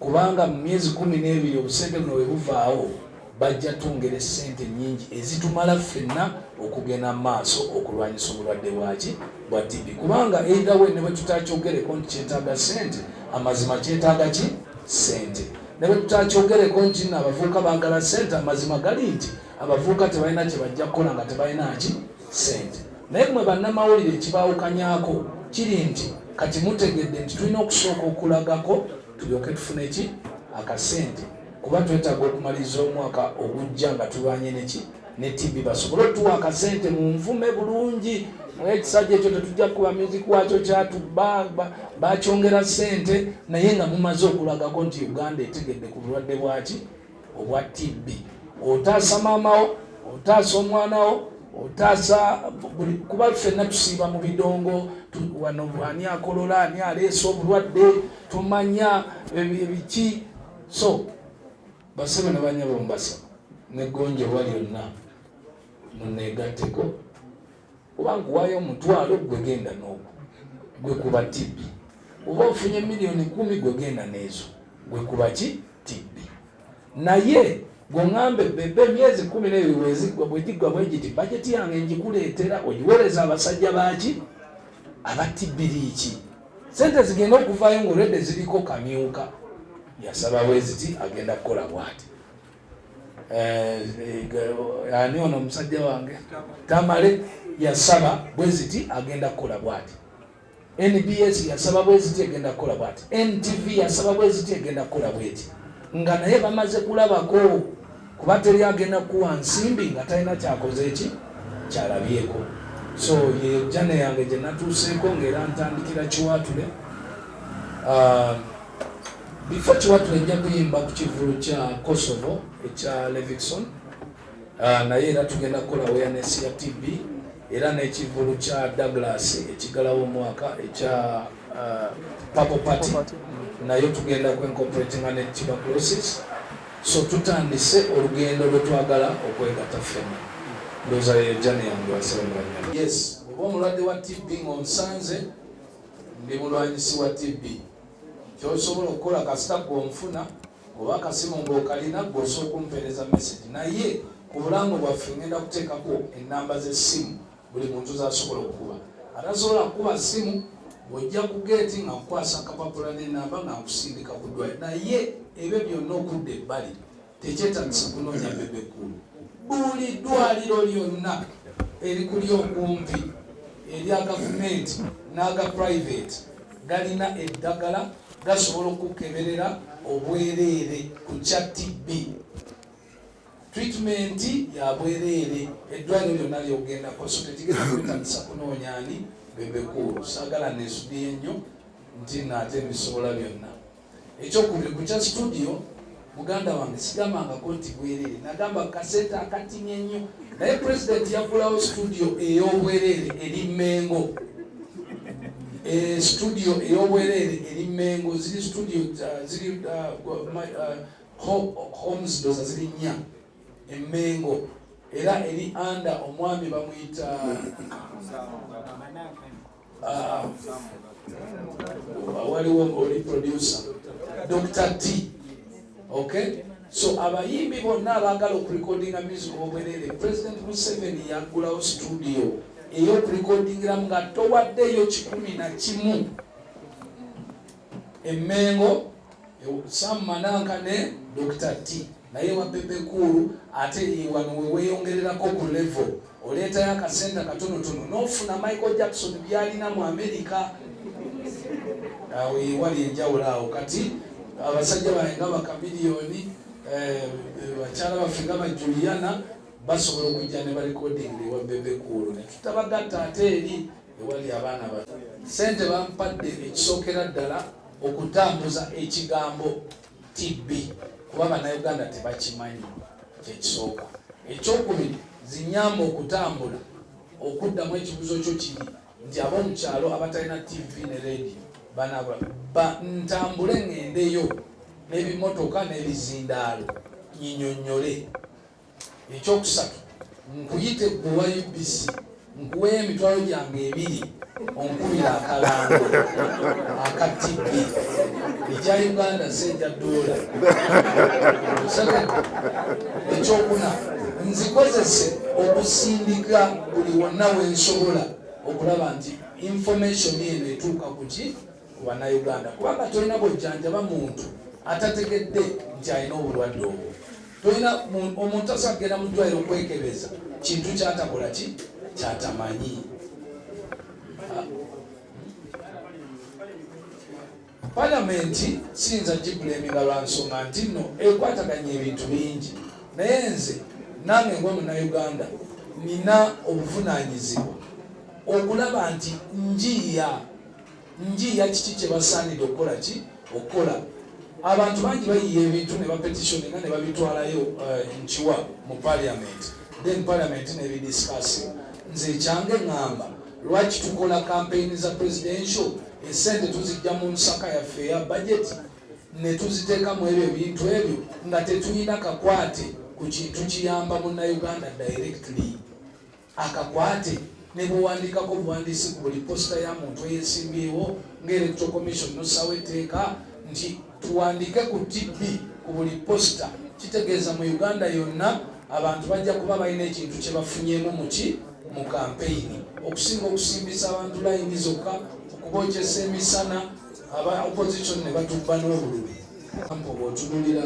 kubanga mu myezi kumi n'ebiri obusente buno bwe buvaawo bajja twongera essente nnyingi ezitumala ffenna okugenda mu maaso okulwanyisa obulwadde bwaki bwa TB kubanga either way ne bwe tutakyogereko nti kyetaaga ssente amazima kyetaaga ki ssente ne bwe tutakyogereko nti no abavubuka baagala ssente amazima gali nti abavubuka tebalina kye bajja kukola nga tebalina ki sente naye mwe bannamawulire ekibaawukanyako kiri nti kati mutegedde nti tulina okusooka okulagako tulyoke tufune ki akasente kuba twetaaga okumaliriza omwaka ogujja nga tulwanye neki ne tibi basobole otuwa akasente mu nvume bulungi ekisajja ekyo tetujja kukuba music wakyo kyatu bakyongera sente naye nga mumaze okulagako nti uganda etegedde ku bulwadde bwaki obwa TB. Otaasa maamawo, otaasa omwanawo, otaasa buli kuba ffenna tusiiba mu bidongo wano ani akolola ani aleesa obulwadde tumanya ebiki so basebe ne banyabo mbasaba negonjebwa lyonna muneegatteko oba nkuwayo omutwalo gwe genda n'ogwo gwe kuba tibbi oba ofunye miliyoni kumi gwe genda n'ezo gwe kuba ki tibbi naye gweŋambe bebe emyezi kumi neyo wezigwa bwegiggwa bwegiti bajeti yange ngikuleetera ogiwereza abasajja baki aba tibbi liiki sente zigenda okuvayo ngaolwedde ziriko kamyuka yasaba weziti agenda kukola bwati Eh, eh, ani ono omusajja wange tamale yasaba bweziti agenda kukola bwati nbs yasaba bweziti egenda kukola bwati ntv yasaba bweziti egenda kukola bweti nga naye bamaze kulabako kuba teri agenda kuwa nsimbi nga talina kyakoze eki kyalabyeko so yejane yange gyenatuuseeko ngaera ntandikira kiwatule ah, bifo kiwatula ejja kuyimba ku kivulu kya kosovo ekya levison ah, naye era tugenda kukola awareness ya tb era n'ekivulu kya douglas ekigalawo omwaka ekya ah, papo party nayo tugenda ku incorporatinga ne tuberculosis so tutandise olugendo lwetwagala okwegatta ffena ndoza yeyo jani yange wasebaanya yes oba omulwadde wa tb ngaonsanze ndi mulwanyisi wa tb kyosobola okukola kasita gwe omufuna oba akasimu ngaokalina gwe osobola okumpeereza message naye ku bulango bwaffe ngenda kuteekako enamba z'essimu buli muntu zasobola okukuba atasobola kukuba ssimu ojja ku geeti nga nkukwasa akapapula n'enamba nga nkusindika ku ddwali naye ebyo byonna okudda ebbali tekyetagisa kunoonya bebe kkulu buli ddwaliro lyonna erikuli okumpi erya gavumenti n'aga private galina eddagala gasobola okukeberera obwereere ku kya tb treatment ya bwereere eddwaliro lyonna lyogendako so tekigenda kwetagisa kunoonya ani bebe kkulu saagala nesudiye nnyo nti naate bisobola byonna ekyokubiri ku kya situdiyo muganda wange sigambangako nti bwereere nagamba kasente akatimye nnyo naye pulezidenti yaggulawo situdiyo ey'obwereere eri mmengo eh, situdiyo ey'obwereere eri mmengo ziri situdiyo uh, ziri uh, uh, homes doza ziri nnya emmengo era eri anda omwami bamuyita Ah, waliwo oli producer Dr. T. Okay? So abayimbi bonna abaagala okurekodinga music obwerere President Museveni yaggulawo studio ey'okurekodingiramu nga towaddeeyo kikumi na kimu Emengo Sam Mananka ne Dr. T naye wa Bebe Cool ate wano we weeyongererako ku level oleetayo akasente akatonotono n'ofuna Michael Jackson byalina mu Amerika awo yewali enjawulo awo kati abasajja bange nga bakamiliyoni eh, bakyala baffe nga bajuliyana basobola okujja ne balekodinga ewa Bebe Cool ne tutabagatta ate eri ewali abaana abato sente bampadde ekisookera ddala okutambuza ekigambo tb kuba bannayuganda tebakimanyi kyekisooka ekyokubiri zinyamba okutambula okuddamu ekibuzo kyo kiri nti abomukyalo abatalina tv ne radio banabula ntambule ngendeyo nebimotoka nebizindaalo nyinyonyole ekyokusatu nkuyite gwe wa UBC nkuweyo emitwalo gyange ebiri onkubira akalango aka TV ekya Uganda seja dola ekyokuna nzikozese okusindika buli wonna wensobola okulaba nti information eno etuuka kuki ku bannayuganda kubanga tolina bwojjanjaba muntu atategedde nti alina obulwadde obwo tolina omuntu asobola kugenda mu ddwaliro okwekebeza kintu kyatakola ki kyatamanyi palamenti siyinza gibulemiga lwa nsonga nti nno ekwataganya ebintu bingi naye nze nange nga munauganda nina obuvunanyizibwa okulaba nti njiya njiiya kiki kye basaanidde okukola ki okukola abantu bangi bayiya ebintu ne bapetitioni nga ne babitwalayo eh, nkiwa mu parliament then parliament nebidiscussi nze ekyange ŋŋamba lwaki tukola kampeyini za presidential esente tuzijja mu nsaka yaffe eya budget ne tuziteekamu ebyo ebintu ebyo nga tetulina kakwate ku kintu kiyamba munnauganda directly akakwate ne bwewandikako obuwandiisi ku buli posita ya muntu eyesimbyewo nga electoral commission nosawo etteeka nti tuwandike ku tb ku buli posita kitegeeza mu uganda yonna abantu bajja kuba balina ekintu kyebafunyemu muki mu kampeyini okusinga okusimbisa abantu layini zokka okubokyesa emisana aba opposition ne batubba n'obulumi kampa oba otunulira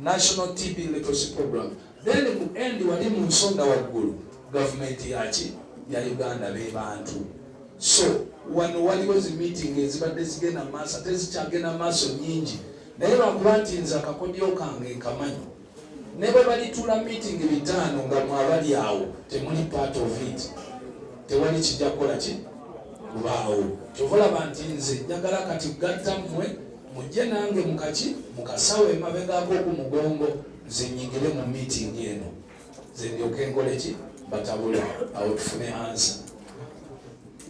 National TB Literacy Program. Then ku end wali mu nsonda waggulu gavumenti yaki ya Uganda be bantu. So wano waliwo zi meeting ezibadde zigenda mu maaso ate zikyagenda mu maaso nyingi naye lwakuba nti nze akakodyo kange nkamanyi ne bwe balituula meeting bitaano nga mwabali awo temuli part of it tewali kijja kukola ki kubaawo kyova olaba nti nze njagala kati gatta mmwe mujje nange mukaki mukasawo emabegako ku mugongo nze nyingire mu meeting eno nze ndyoke nkoleki batabule awo tufune ansa